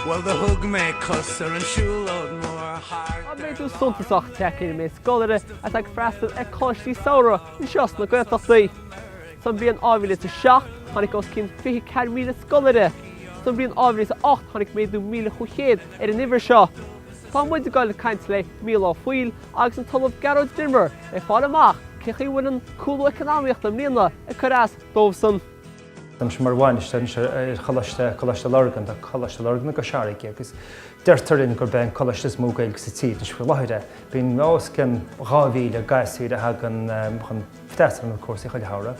Bhuel do thug mé cuairt ar an siúlóid mór thart ar an lá. Tá méadú suntasach tagtha ar an méid scoláire atá ag freastal ar choláistí samhraidh anseo sna Gaeltachtaí. Sa bhliain 2007, tháinig os cionn 24,000 scoláire. Sa bhliain 2008, tháinig méadú 1,500 ar an uimhir seo. Tá muid ag dul ag caint le Micheál Ó Foighil agus an tOllamh Gearóid Denvir le fáil amach cé chaoi a bhfuil an cúlú eacnamaíochta i mbliana ag cur as dóibhsan. Tá mise mar bhainisteoir anseo ar Choláiste Lurgan, tá Coláiste Lurgan i gCois Fharraige agus deirtear linn gurb é an coláiste is mó Gaeilge sa tír anois faoi láthair é. Bíonn os cionn 2,000 gasúir a thagann chun freastal ar na cúrsaí chuile shamhradh.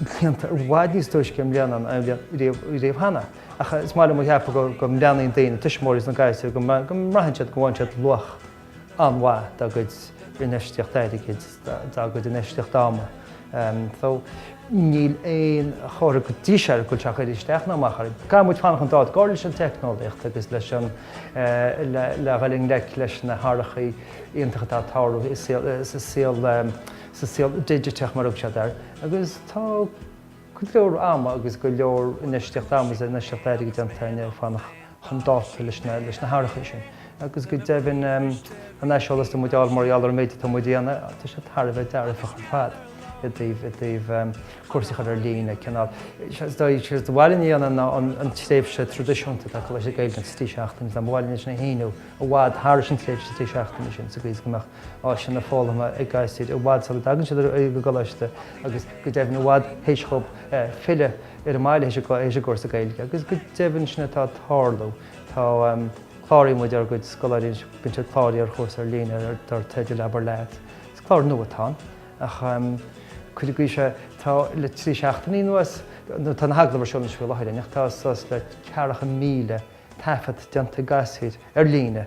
déanta i bhfad níos túisce i mbliana ná riamh cheana, ach ba mhaith liom a cheapadh go mbreathnaíonn daoine, tuismitheoirí is na gasúir, go mbraitheann siad go bhfaigheann siad luach an-mhaith dá gcuid infheistíocht airgid, dá gcuid infheistíocht ama. So, níl aon chomhartha go dtí seo go bhfuil sé ag cur isteach ná amach orainn. Caithfidh muid fanacht chun dáta, ar ndóigh, leis an teicneolaíocht agus leis an, le dhul i ngleic leis na hathruithe iontacha atá ag tarlú i saol sa saol digiteach mar a thugann siad air, agus tá go leor ama agus go leor infheistíocht ama agus infheistíocht airgid déanta againn le fanacht chun dáta leis na hathruithe sin. Agus go deimhin an aiseolas atá muid a fháil mar gheall ar an méid atá muid a dhéanamh, tá sé thar a bheith dearfach ar fad i dtaobh cúrsaí a chur ar líne, cineál is ba mhaith linne an tréimhse traidisiúnta atá ag coláistí Gaeilge, sin trí seachtainí, ba mhaith linn é a shíneadh i bhfad thar an tréimhse trí seachtainí sin sa gcaoi is go mbeadh áiseanna foghlama ag gasúir i bhfad sula dtagann siad ar an gcoláiste agus go deimhin i bhfad théis dhóibh filleadh ar an mbaile théis a gcúrsa Gaeilge. Agus go deimhin sin atá ag tarlú. Tá Cláraíonn muid ár gcuid scoláirí anois, bíonn siad ag cláraíocht ar chúrsa ar líne dar teideal Abair Leat. Is clár nua atá ann ach cuid agaibh seo tá le trí seachtainí anuas, nó tá na heagla orthu sna scoileanna faoi láthair ach tá suas le ceathracha míle taifead déanta ag gasúir ar líne,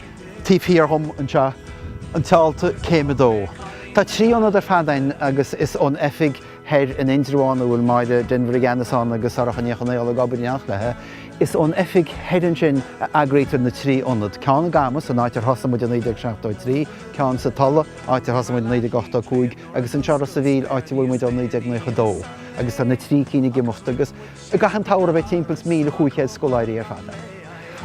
Taobh thiar dhom anseo tá an t-ionad, céim a dó. Tá trí ionad ar fad ann agus is ón oifig thoir in Indreabhán, a bhfuil Máire Denvir i gceannas ann agus Sorcha Ní Chonaola ag obair in éineacht léi, is ón oifig thoir ansin a eagraítear na trí ionad, ceann i gCamus, an áit ar thosaigh muid i 1973, ceann sa Tulaigh, áit ar thosaigh muid i 1985, agus anseo i Ros a' Mhíl, áit a bhfuil muid ó 1992, agus tá na trí cinn ag imeacht agus. I gcaitheamh an tsamhraidh beidh timpeall is míle chúig chéad scoláirí ar fad ann.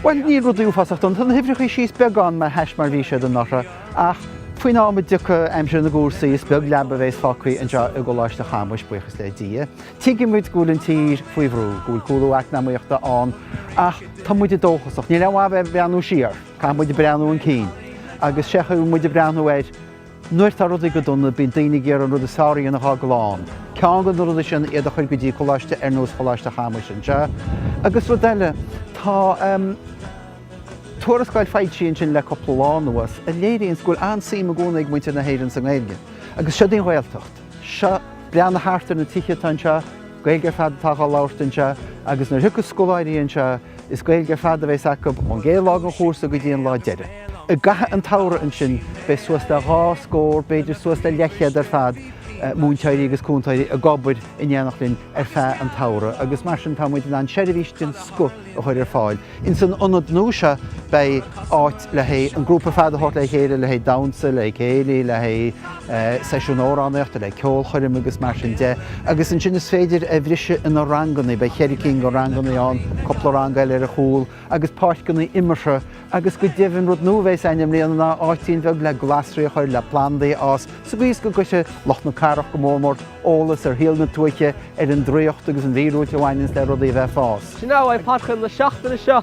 Bhuel, níl rudaí uafásach dona, tá na huimhreachaí síos beagán le hais mar a bhí siad anuraidh, ach faoin am a dtiocfaidh aimsir na gcúrsaí is beag leaba a bhéas fágthaí anseo i gColáiste Chamuis, buíochas le Dia. Tuigeann muid go bhfuil an tír faoi bhrú, go bhfuil cúlú eacnamaíochta ann, ach tá muide dóchasach. Níl aon mhaith bheith ag breathnú siar, caithfidh muid breathnú 'un cinn, agus sé an chaoi a bhfuil muid ag breathnú air. Nuair tá rudaí go dona, bíonn daoine ag iarraidh an rud is fearr a dhéanamh dhá gclann. Ceann de na rudaí sin iad a chur go dtí coláiste ar nós Choláiste Chamuis anseo. Agus rud eile, tá tuarascáil foilsithe ansin le cúpla lá anuas a léiríonns go bhfuil an-suim i gcónaí ag muintir na hÉireann sa nGaeilge. Agus seo dhíon Gaeltacht. Seo, breathnaigh thart ar na tithe atá anseo, Gaeilge ar fad atá dhá labhairt anseo. Agus nuair a thiocfas scoláirí anseo, Is Gaeilge ar fad a bheas acub ón gcéad lá den chúrsa go dtí an lá deiridh. I gcaitheamh an tsamhraidh ansin beidh suas le dhá scór, b'fhéidir suas le leathchéad ar fad, múinteoirí agus cúntóirí ag obair in éineacht linn ar feadh an tsamhraidh agus mar sin tá muid in ann seirbhís den scoth a chur ar fáil. Insan ionad nua seo beidh áit. le haghaidh an grúpa ar fad a thabhairt le chéile, le haghaidh damhsa, le céilí, le haghaidh seisiún amhránaíochta, le ceolchoirm agus mar sin de. Agus ansin is féidir a bhriseadh ina ranganna, beidh cheithre cinn de ranganna ann, cúpla rang eile ar a chúl agus páirceanna imeartha agus go deimhin rud nua a bheas ann i mbliana ná áitín bheag le glasraí a chur le plandaí a fhás sa gcaoi is go gcuirfidh lucht na cathrach go mór mór eolas ar shaol na tuaithe, ar an draíocht agus an mhíorúilt a bhaineanns le rudaí a bheith ag fás. Sin é a bheidh ag Páirc Chuimil na seachtaine seo.